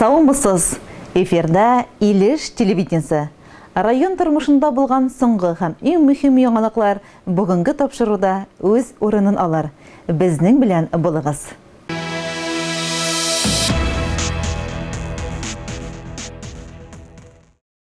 Саумысыз! Эфирда Илеш телевидениесе. Район тормышында булган соңгы һәм иң мөһим яңалыклар бүгенге тапшыруда үз урынын алыр. Безнең белән булыгыз!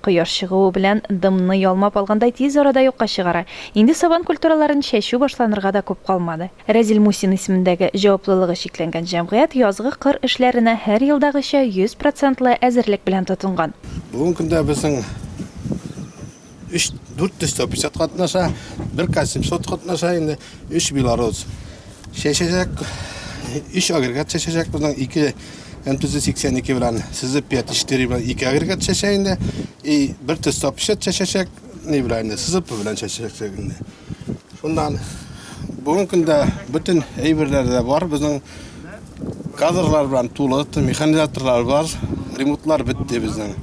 Кояш чыгуы белән дымны ялмап алгандай тиз арада юкка чыгара. Инде сабан культураларын чәчү башланырга да күп калмады. Рәзил Мусин исемендәге җаваплылыгы чикләнгән җәмгыять язгы кыр эшләренә һәр елдагыча 100 процентлы әзерлек белән тотынган. Бүгенге көндә безнең өч, дүрт йөз тәписят катнаша, бер касим сот катнаша инде, өч белорус. Чәчәчәк, өч агрегат чәчәчәк безнең, ике МТЗ 82 белән сызып пятичтери белән ике агрегат чәчә инде. И бер төс тапшет чәчәчәк, ни белән инде, сызып белән чәчәчәк инде. Шуннан бүгін көндә бүтін әйберләр дә бар безнең кадрлар белән тулы, механизаторлар бар, ремонтлар бетте безнең.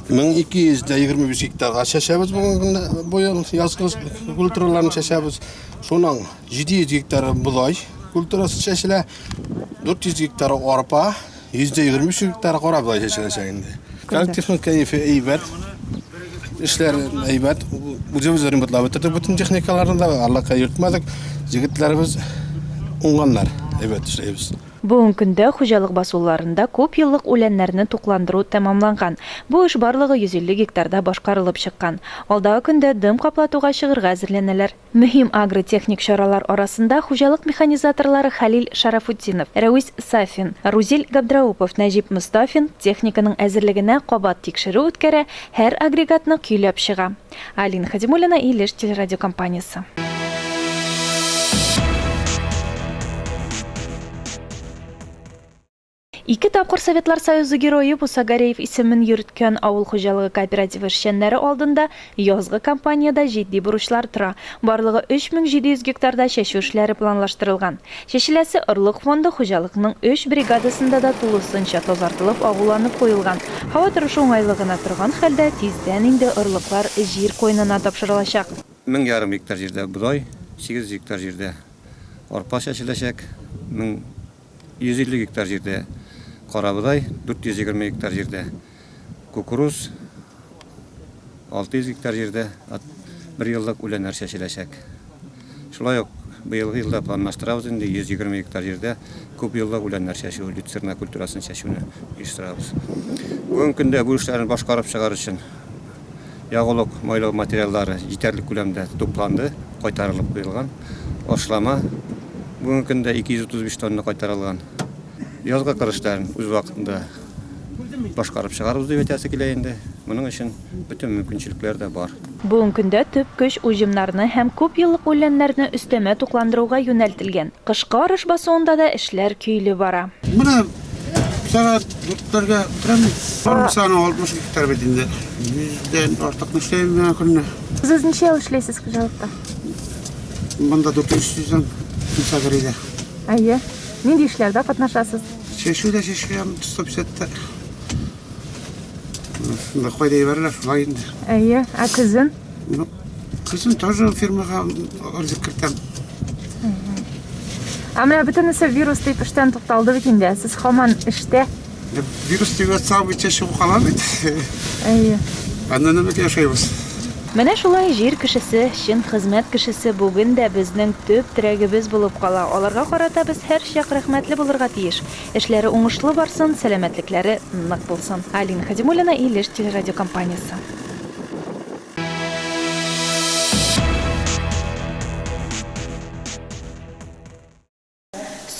1225 гектарга чәчәбез бүгін быел язгы культураларны чәчәбез. Шуның 700 гектары бодай культурасы чәчелә, 400 гектары арпа, 123 гектары кара бодай чәчеләчәк инде. Коллективның кәефе әйбәт. Эшләр әйбәт. Үзебез ремонтлап бетердек бөтен техникаларны да, арлакка йөртмәдек. Җегетләребез уңганнар, әйбәт эшләйбез. Бүгенге көндә хуҗалык басуларында күп еллык үләннәрне тукландыру тәмамланган. Бу эш барлыгы 150 гектарда башкарылып чыккан. Алдагы көндә дым каплатуга чыгырга әзерләнәләр. Мөһим агротехник чаралар арасында хуҗалык механизаторлары Хәлил Шәрәфутдинов, Рәвис Сафин, Рузил Габдраупов, Нәҗип Мостафин техниканың әзерлегенә кабат тикшерү үткәрә, һәр агрегатны көйләп чыга. Алина Хәдимуллина, Илеш телерадиокомпаниясе. Ике тапкыр Советлар Союзы Герое Буса Гареев исемен йөрткән авыл хуҗалыгы кооперативы эшчәннәре алдында язгы кампаниядә җитди бурычлар тора. Барлыгы 3700 гектарда чәчү эшләре планлаштырылган. Чәчеләсе орлык фонды хуҗалыкның өч бригадасында да тулысынча тазартылып, агуланып куелган. Һава торышы уңайлы гына торган хәлдә, тиздән инде орлыклар җир куенына тапшырылачак. Мең ярым гектар җирдә бодай, 800 гектар җирдә арпа чәчеләчәк. Мең 150 гектар җирдә карабодай, 420 гектар җирдә кукуруз, 600 гектар җирдә бер еллык үләннәр чәчеләчәк. Шулай ук быелгы елда планлаштырабыз инде 120 гектар җирдә күп еллык үләннәр чәчү, люцерна культурасын чәчүне оештырабыз. Бүгенге көндә бу эшләрне башкарып чыгар өчен Ягулык майлау материаллары җитәрлек күләмдә тупланды, кайтарылып куелган. Ашлама бүгенге көндә 235 тонна кайтарылган. Язгы кыр эшләрен үз вакытында башкарып чыгарыбыз дип әйтәсе килә инде. Моның өчен бөтен мөмкинчелекләр дә бар. Бүгенге көндә төп көч уҗымнарны һәм күп еллык үләннәрне өстәмә тукландыруга юнәлтелгән. Кышкы арыш басуында да эшләр көйле бара. Менә Сәгать дүртләргә үтерәм. Фермасына 60 гектар бит инде. Йөздән артык эшләйм генә көнне. Сез ничә ел эшләйсез хуҗалыкта? Монда 400 сүзем Сагрида. Әйе. Нинди эшләрдә катнашасыз? Чәчүдә чәчкәм 150-тә. Кайда ибәрелә шулай инде. Әйе. Ә көзен? Ну, кызым тоже фирмага отзыв кертәм. Ә менә бөтенесе вирус дип эштән тукталды бит инде. Сез хаман эштә. Вирус дип атсам, бит чыгып кала бит. Әйе. Аннан нәмәк яшәйбез. Менә шулай җир кешесе, чын хезмәт кешесе бүген дә безнең төп терәгебез булып кала. Аларга карата без һәрчак рәхмәтле булырга тиеш. Эшләре уңышлы барсын, сәламәтлекләре нык булсын. Алина Хәзимуллина, Илеш телерадиокомпаниясе.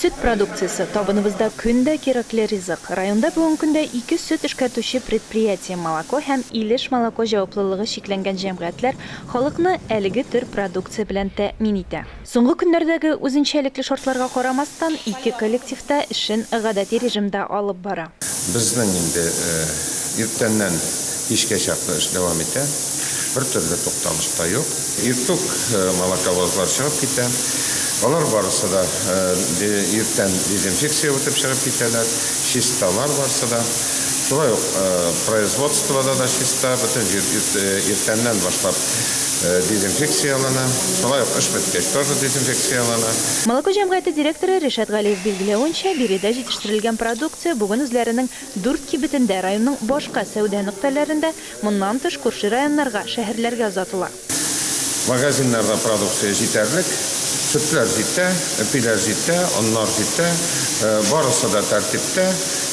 Сөт продукциясе, табыныбызда көн дә кирәкле ризык. Районда бүген көндә ике сөт эшкәртүче предприятие, Молоко һәм Илеш молоко җаваплылыгы чикләнгән җәмгыятьләр халыкны әлеге төр продукция белән тәэмин итә. Соңгы көннәрдәге үзенчәлекле шартларга карамастан, ике коллектив та эшен гадәти режимда алып бара. Безнең инде иртәннән кичкә чаклы эш дәвам итә, бертөрле тукталыш та юк. Иртүк молоковозлар чыгып китә, алар барысы да иртән дезинфекция үтеп чыгып китәләр, чисталар барсы да. Шулай ук производствода да чиста, бөтен җир иртәннән башлап дезинфекцияләнә, шулай ук эш беткәч тоже дезинфекцияләнә. Молоко җәмгыяте директоры Ришат Галиев билгеләвенчә, биредә җитештерелгән продукция бүген үзләренең дүрт кибетендә, районның башка сәүдә нөктәләрендә, моннан тыш, күрше районнарга, шәһәрләргә озатыла. Магазиннарда продукция җитәрлек, сөтләр җитә, әпиләр җитә, оннар җитә, барысы да тәртиптә,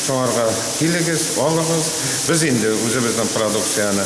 шуңарга килегез, алыгыз. Без инде үзебезнең продукцияне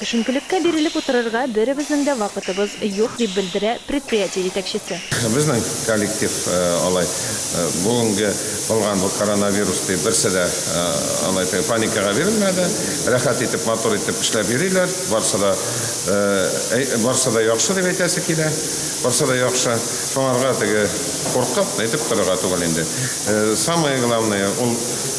Төшенкелеккә бирелеп утырырга беребезнең дә вакытыбыз юк, дип белдерә предприятие җитәкчесе. Безнең коллектив алай бүгенге булган бу коронавирус дип берсе дә алай теге паникага бирелмәде. Рәхәт итеп, матур итеп эшләп йөриләр. Барсы да барсы да яхшы дип әйтәсе килә. Барсы да яхшы. Шуңарга теге куркып әйтеп торырга түгел инде. Самое главное, ул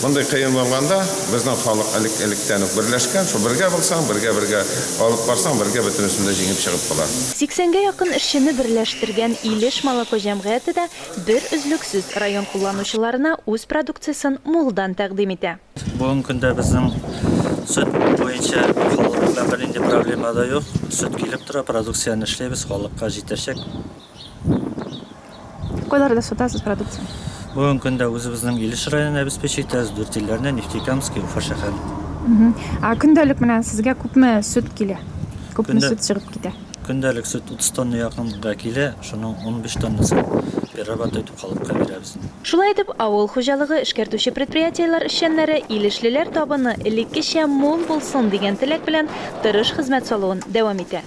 мондый кыен булганда, безнең халык элек электән үк берләшкән, шул бергә булсаң, бергә бергә алып барсаң, бергә бөтенесен дә җиңеп чыгып була. Сиксәнгә якын эшчене берләштергән Илеш молоко җәмгыяте дә бер өзлексез район кулланучыларына үз продукциясен мулдан тәкъдим итә. Бүгенге көндә безнең сөт буенча халык белән бернинди проблема да юк, сөт килеп тора, продукцияне эшлибез, халыкка җитәчәк. Кайларда сатасыз продукцияне? Бүгенге көндә үзебезнең Илеш районын обеспечи итәбез, дүрт илләрне, Нефтекамский, Уфа шәһәре. Ә көндәлек менә сезгә күпме сөт килә? Күпме сөт чыгып китә? Көндәлек сөт 30 тонна якынга килә, шуның унбиш тоннасын перерабатывать итеп халыкка бирәбез. Шулай итеп, авыл хуҗалыгы эшкәртүче предприятиеләр эшчәннәре илешлеләр табыны элеккечә мул булсын дигән теләк белән тырыш хезмәт салуын дәвам итә.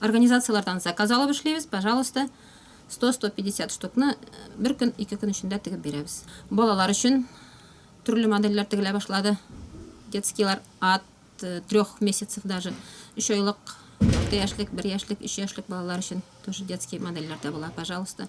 Организацияләрдән заказ алып эшлибез, пожалуйста, 100-150 штукны бер көн, ике көн эчендә тегеп бирәбез. Балалар өчен төрле модельләр тегелә башлады. Детскийлар ат 3 месяцев даже, 3 айлык, 6 яшьлек, 1 яшьлек, 3 яшьлек балалар өчен тоже детский модельләр дә була, пожалуйста.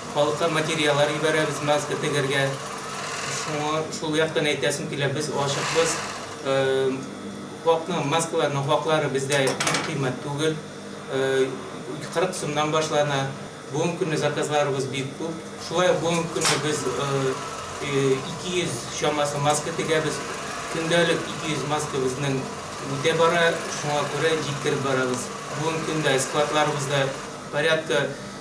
Халыкка материалар ибәрәбез, маска тегергә. Шуңа шул яктан әйтәсем килә, без ачыкбыз. Хакның, маскаларның хаклары бездә бик кыйммәт түгел. 40 сумнан башлана. Бүгенге көнне заказларыбыз бик күп. Шулай ук бүгенге көнне без 200 чамасы маска тегәбез. Көндәлек 200 маска безнең үтә бара, шуңа күрә җиткереп барабыз. Бүгенге көндә складларыбызда порядка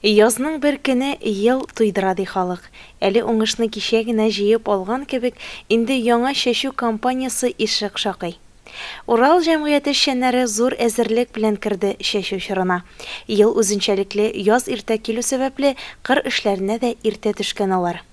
Язның бер көне ел туйдыра ди халык. Әле уңышны кичә генә җыеп алган кебек, инде яңа чәчү кампаниясе ишек шакый. Урал җәмгыяте эшчәннәре зур әзерлек белән керде чәчү чорына. Ел үзенчәлекле яз иртә килү сәбәпле, кыр эшләренә дә иртә төшкән алар.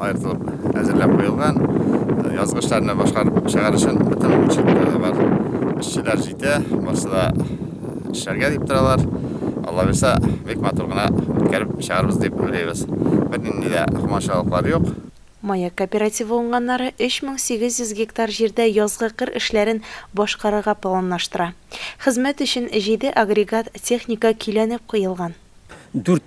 аертылып әзерләп куелган. Язгычларны башкарып чыгар өчен бөтен мөмкинлекләр дә бар. Эшчеләр җитә, барысы да эшләргә дип торалар. Алла бирсә, бик матур гына үткәреп чыгарбыз дип уйлыйбыз. Бернинди дә комачаулыклар юк. Маяк кооперативы уңганнары 3800 гектар җирдә язгы кыр эшләрен башкарырга планлаштыра. Хезмәт өчен җиде агрегат техника көйләнеп куелган. Дүрт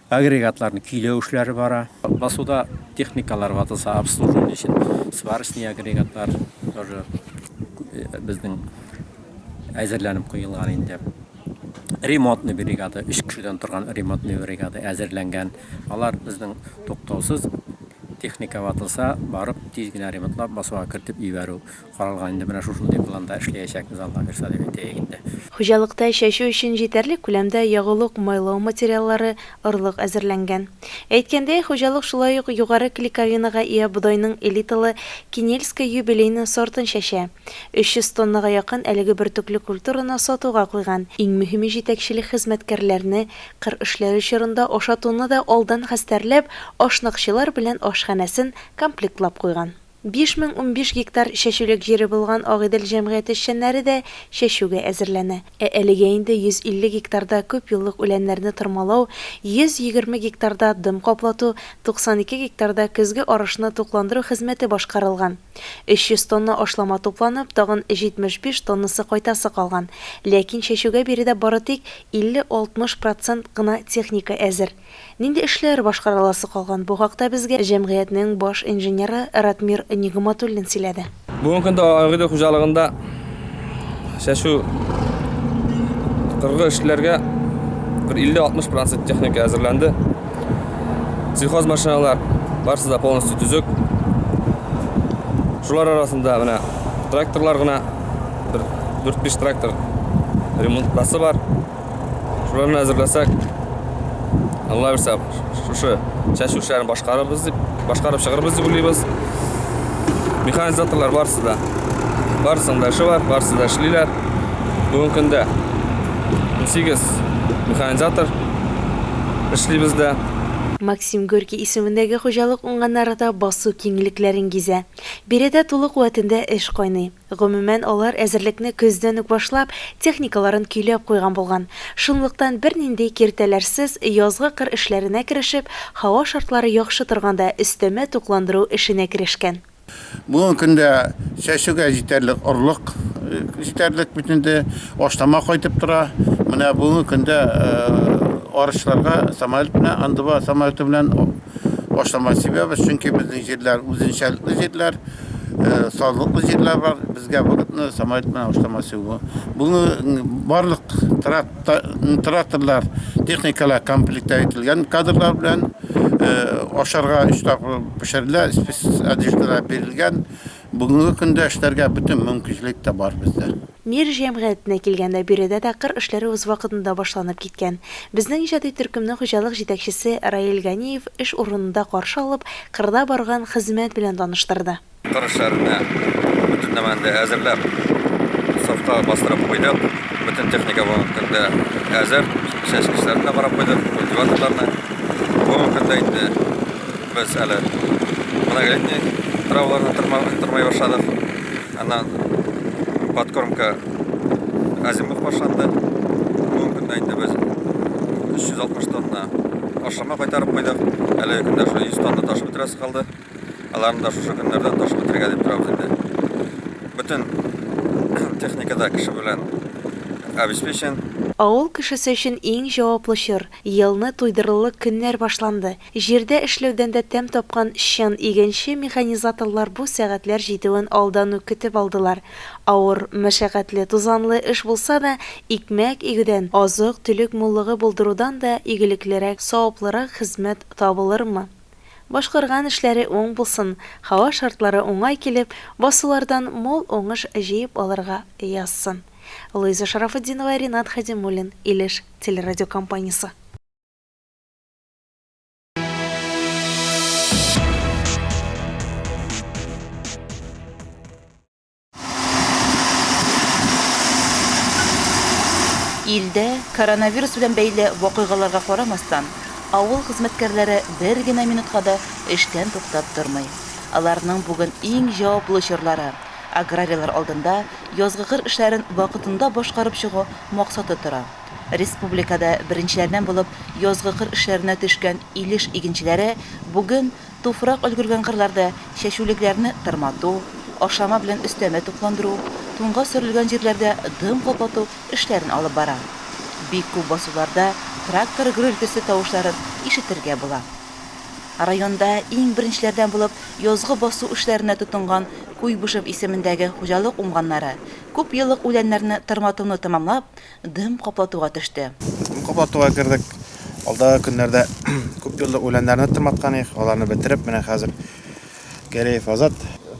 Агрегатларның көйләү эшләре бара. Басуда техникалар ватылса, обслуживание өчен сварочный агрегатлар тоже безнең әзерләнеп куелган инде. Ремонтный бригада, өч кешедән торган ремонтный бригада әзерләнгән. Алар безнең туктаусыз техника ватылса, барып тиз генә ремонтлап, басуга кертеп җибәрү. Каралган инде менә шушындый планда эшләячәкбез алга бирса дип әйтәек инде. Хуҗалыкта чәчү өчен җитәрлек күләмдә ягулык, майлау материаллары, орлык әзерләнгән. Әйткәндәй, хуҗалык шулай ук югары клейковинага ия бодайның элиталы Кинельское юбилейное сортын чәчә. 300 тоннага якын әлеге бөртекле культураны сатуга куйган. Иң мөһиме җитәкчелек хезмәткәрләрне кыр эшләре чорында ашатуны да алдан хәстәрләп, ашнакчылар белән ашханәсен комплектлап куйган. Биш мең унбиш гектар чәчүлек җире булган Агыйдел җәмгыяте эшчәннәре дә чәчүгә әзерләнә. Ә әлегә инде 150 гектарда күпьеллык үләннәрне тырмалау, 120 гектарда дым каплату, 92 гектарда көзге арышны тукландыру хезмәте башкарылган. 300 тонна ашлама тупланып, тагын 75 тоннасы кайтасы калган. Ләкин чәчүгә биредә бары тик 50-60 процент кына техника әзер. Нинди эшләр башкарыласы калган, бу хакта безгә җәмгыятьнең баш инженеры Ратмир Нигъматуллин сөйләде. Бүгенге көндә Агыйдел хуҗалыгында чәчү кыргы эшләргә бер 50-60 процент техника әзерләнде. Сельхоз машиналар барысы да полностью төзек. Шулар арасында менә тракторлар гына бер 4-5 трактор ремонт басы бар. Шуларны әзерләсәк, Алла бирсә, шушы чәчү эшләрен башкарырбыз дип, башкарып чыгарбыз дип уйлыйбыз. Механизаторлар барысы да. Барысының да эше бар, барысы да эшлиләр. Бүгенге көндә 18 механизатор эшли бездә. Максим Горький исемендәге хуҗалык уңганнары да басу киңлекләрен гизә. Биредә тулы куәтендә эш кайный. Гомумән, алар әзерлекне көздән үк башлап, техникаларын көйләп куйган булган. Шунлыктан, бернинди киртәләрсез, язгы кыр эшләренә керешеп, һава шартлары яхшы торганда, өстәмә тукландыру эшенә керешкән. Бүгенге көндә чәчүгә җитәрлек орлык җитәрлек бит инде, ашлама кайтып тора. Менә бүгенге көндә арычларга самолет белән, андыва самолеты белән башлама себәбе, чөнки безнең җирләр үзенчәлекле җирләр, э, сазлыклы җирләр бар. Безгә вакытны самолет белән башлама себу. Бүгенге барлык тракторлар, техникалар комплекта ителгән кадрлар белән э, ашарга өч тапкыр пешерелә, спец одеждалар бирелгән. Бүгенге көндә эшләргә бөтен мөмкинчелек тә бар бездә. Мир җәмгыятенә килгәндә, биредә дә кыр эшләре үз вакытында башланып киткән. Безнең иҗади төркемне хуҗалык җитәкчесе Раил Ганиев эш урынында каршы алып, кырда барган хезмәт белән таныштырды. Кыр эшләренә бөтен нәмәне дә әзерләп, сафка бастырып куйдык. Бөтен техника бүгенге көндә әзер. Чәчкечләрне дә карап куйдык, культиваторларны. Бүгенге көндә инде без әле виноградный траваларны тырмый башладык. Аннан подкормка азимут башланды. Бүгенге көндә инде без 360 тонна ашама кайтарып куйдык. Әлеге көндә шул 100 тонна ташып бетерәсе калды. Аларны да шушы көннәрдә ташып бетерергә дип торабыз инде. Бөтен техникада кеше белән обеспечен. Авыл кешесе өчен иң җаваплы чор, елны туйдырырлык көннәр башланды. Җирдә эшләүдән дә тәм тапкан чын игенче механизаторлар бу сәгатьләр җитүен алдан ук көтеп алдылар. Авыр, мәшәкатьле, тузанлы эш булса да, икмәк игүдән, азык-төлек муллыгы булдырудан да игелеклерәк, саваплырак хезмәт табылырмы? Башкарган эшләре уң булсын, һава шартлары уңай килеп, басулардан мул уңыш җыеп алырга язсын. Луиза Шарафутдинова, Ринат Хәдимуллин, Илеш телерадиокомпаниясе. Илдә коронавирус белән бәйле вакыйгаларга карамастан, авыл хезмәткәрләре бер генә минутка да эштән туктап тормый. Аларның бүген иң җаваплы чорлары, аграрийлар алдында язгы кыр эшләрен вакытында башкарып чыгу максаты тора. Республикада беренчеләрдән булып язгы кыр эшләренә төшкән Илеш игенчеләре бүген туфрак өлгергән кырларда чәчүлекләрне тырмату, ашлама белән өстәмә тукландыру, туңга сөрелгән җирләрдә дым каплату эшләрен алып бара. Бик күп басуларда трактор гөрелтесе тавышларын ишетергә була. Районда иң беренчеләрдән булып язгы басу эшләренә тотынган Куйбышев исемендәге хуҗалык уңганнары күпьеллык үләннәрне тырматуны тәмамлап, Дым каплатуга төште. Дым каплатуга кердек. Алдагы көннәрдә күп еллык үләннәрне тырматкан идек. Аларны бетереп, менә хәзер Гәрәев Азат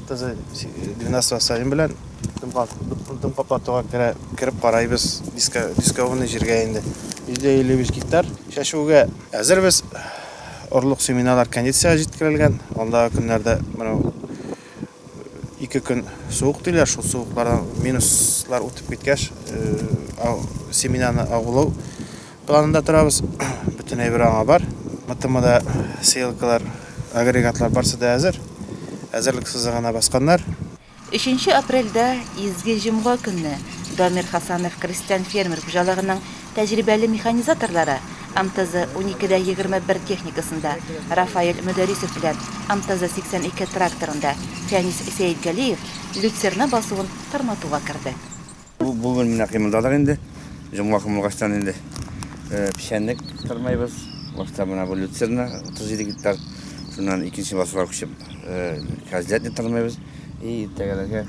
кызы 12 Сафин белән дым каплатуга кереп карайбыз. Дискованный җиргә инде 155 гектар чәчүгә әзербез. Орлык семеналар кондициягә җиткерелгән. Алдагы көннәрдә менә Ике көн суык диләр, шул суыклардан минуслар үтеп киткәч, э, семенаны агулау планында торабыз. Бөтен әйбер аңа бар. МТМда сеялкалар, агрегатлар барсы да әзер. Әзерлек сызыгына басканнар. Өченче апрельдә, Изге Җомга көнне, Дамир Хасанов крестьян-фермер хуҗалыгының Тәҗрибәле механизаторлары МТЗ 12 дә 21 техникасында, Рафаэль Мөдәрисов белән МТЗ 82 тракторында Фәнис Сәетгалиев люцерна басуын тырматуга керде. Бу бүген менә кыймылдадык инде. Җомга кыймылгачтан инде печәнлек тырмыйбыз. Башта менә бу люцерна 37 гектар, шуннан икенче басуга күчеп кәзләтне тырмыйбыз. И иртәгәләргә.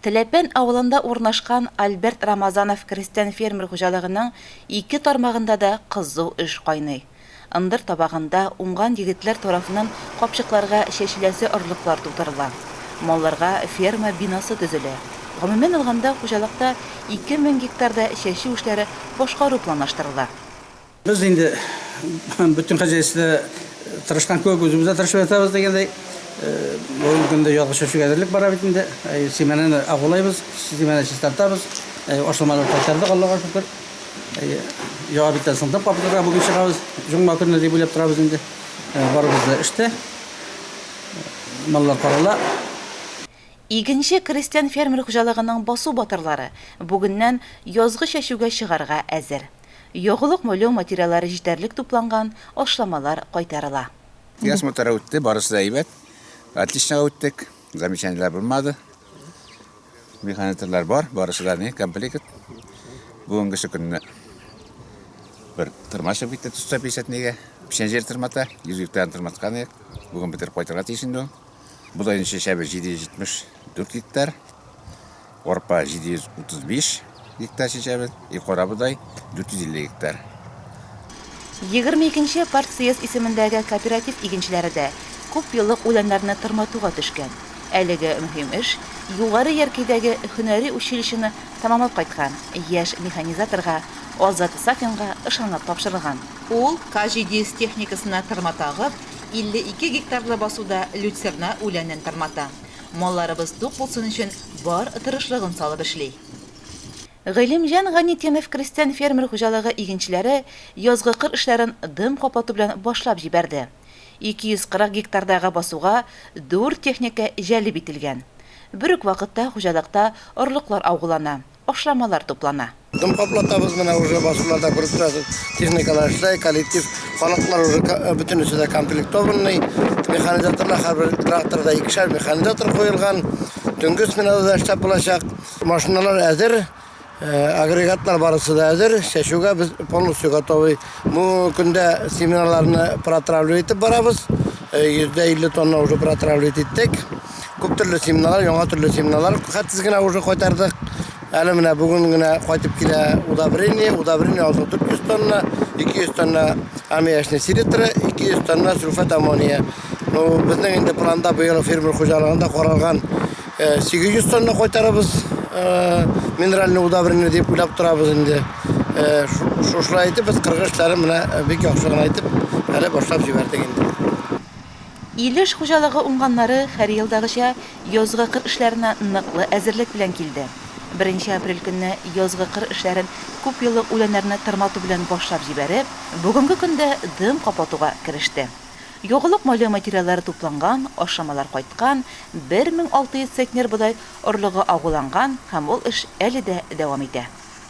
Теләпән авылында урнашкан Альберт Рамазанов крестьян-фермер хуҗалыгының ике тармагында да кызу эш кайный. Ындыр табагында уңган егетләр тарафыннан капчыкларга чәчеләсе орлыклар тутырыла. Малларга ферма бинасы төзелә. Гомумән алганда, хуҗалыкта ике мең гектарда чәчү эшләре башкару планлаштырыла. Без инде бөтен хозяйствода тырышкан кебек, үзебез дә тырышып ятабыз дигәндәй. Бүгенге көндә язгы чәчүгә әзерлек бара бит инде. Семенаны агулыйбыз, семена чистартабыз. Ашламалар кайтардык, Аллага шөкер. Яңа биттән сындык папкага бүген чыгабыз. Җомга көнне дип уйлап торабыз инде. Барыбыз да эштә. Маллар карала. Игенче крестьян-фермер хуҗалыгының басу батырлары бүгеннән язгы чәчүгә чыгарга әзер. Ягулык-молю материаллары җитәрлек тупланган, ашламалар кайтарыла. Яз матур үтте, барысы да әйбәт. Отличнога үттек, замечаниеләр булмады. Механизаторлар бар, барысы да ни, комплект. Бүгенгесе көнне бер тырма чыгып китте, төстә писәтнигә. Печән җир тырмата, йөзгектән тырматкан идек. Бүген бетереп кайтырга тиеш инде ул. Бодайның чәчәбе 774 гектар, арпа 735 гектар чәчәбе, и кара бодай 450 гектар. 22-нче партсъезд исемендәге кооператив игенчеләре дә күп еллык үләннәрне тырматуга төшкән. Әлеге мөһим эш Югары Яркәйдәге һөнәри училищены тәмамлап кайткан яшь механизаторга Азат Сафинга ышанылып тапшырылган. Ул К-700 техникасына тырмата агып, 52 гектарлы басуда люцерна үләнен тырната. Малларыбыз тук булсын өчен бар тырышлыгын салып эшли. Гыйлемҗан Гайнетдинов крестьян-фермер хуҗалыгы игенчеләре язгы кыр эшләрен дым каплату белән башлап җибәрде. 240 гектардагы басуга дүрт техника җәлеп ителгән. Бер үк вакытта хуҗалыкта орлыклар аугылана, ашламалар туплана. Дым каплатабыз, менә уже басулар да күреп торасыз, техникалар эшләй, коллектив, халыклар уже бөтенесе дә комплектованный, механизаторлар һәрбер тракторда икешәр механизатор куелган, төнге сменада да эшләп булачак. Машиналар әзер, агрегатлар барысы да әзер, чәчүгә без полностью готовый. Бу көндә семеннарларны протравливать итеп барабыз, 150 тонна уже протравливать иттек. Күп төрле семеналар, яңа төрле семеналар хәтсез генә уже кайтардык. Әле менә бүген генә кайтып килә удобрение, удобрение алды 400 тонна, 200 тонна аммиачный селитра, 200 тонна сульфат аммония. Ну, безнең инде планда быел фермер хуҗалыгында каралган 800 э, тонна кайтарабыз э, минеральный удобрение дип уйлап торабыз инде. Э, шушылай итеп без кыргы эшләрен менә бик яхшы гына итеп әле башлап җибәрдек инде. Илеш хуҗалыгы уңганнары һәрьелдагыча язгы кыр эшләренә ныклы әзерлек белән килде. Беренче апрель көнне язгы кыр эшләрен күпьеллык үләннәрне тырмату белән башлап җибәреп, бүгенге көндә дым каплатуга кереште. Ягулык майлы материаллары тупланган, ашламалар кайткан, 1600 центнер бодай орлыгы агуланган һәм ул эш әле дә дәвам итә.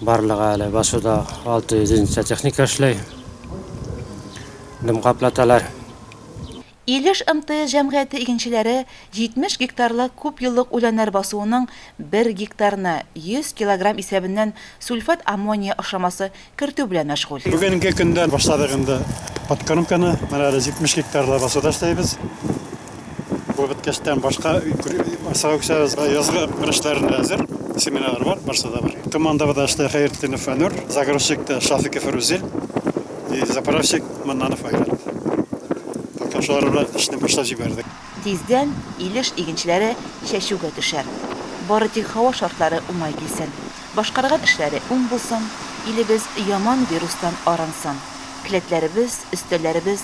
Барлыгы әле басуда 600 единица техника эшли. Дымка платалар. Илеш МТС җәмгыяте игенчеләре 70 гектарлык күпьеллык үләннәр басуының бер гектарына 100 килограмм исәбеннән сульфат аммония ашламасы кертү белән мәшгуль. Бүгенге көндән башладык инде подкормканы. Менә әле 70 гектарлы басуда эшләйбез. Бу беткәчтән башка Сауксабызга язгы көрәшләрендә әзер семинар бар, барса да бар. Командабыз да эшле Хәертдинов Фәнүр, загрузчик та Шафиков Рузил, и заправщик Маннанов Айрат. Пока шулар белән эшне башлап җибәрдек. Тиздән Илеш игенчеләре чәчүгә төшәр. Бары тик һава шартлары уңай килсен. Башкарган эшләре уң булсын, илебез яман вирустан арынсын. Келәтләребез, өстәлләребез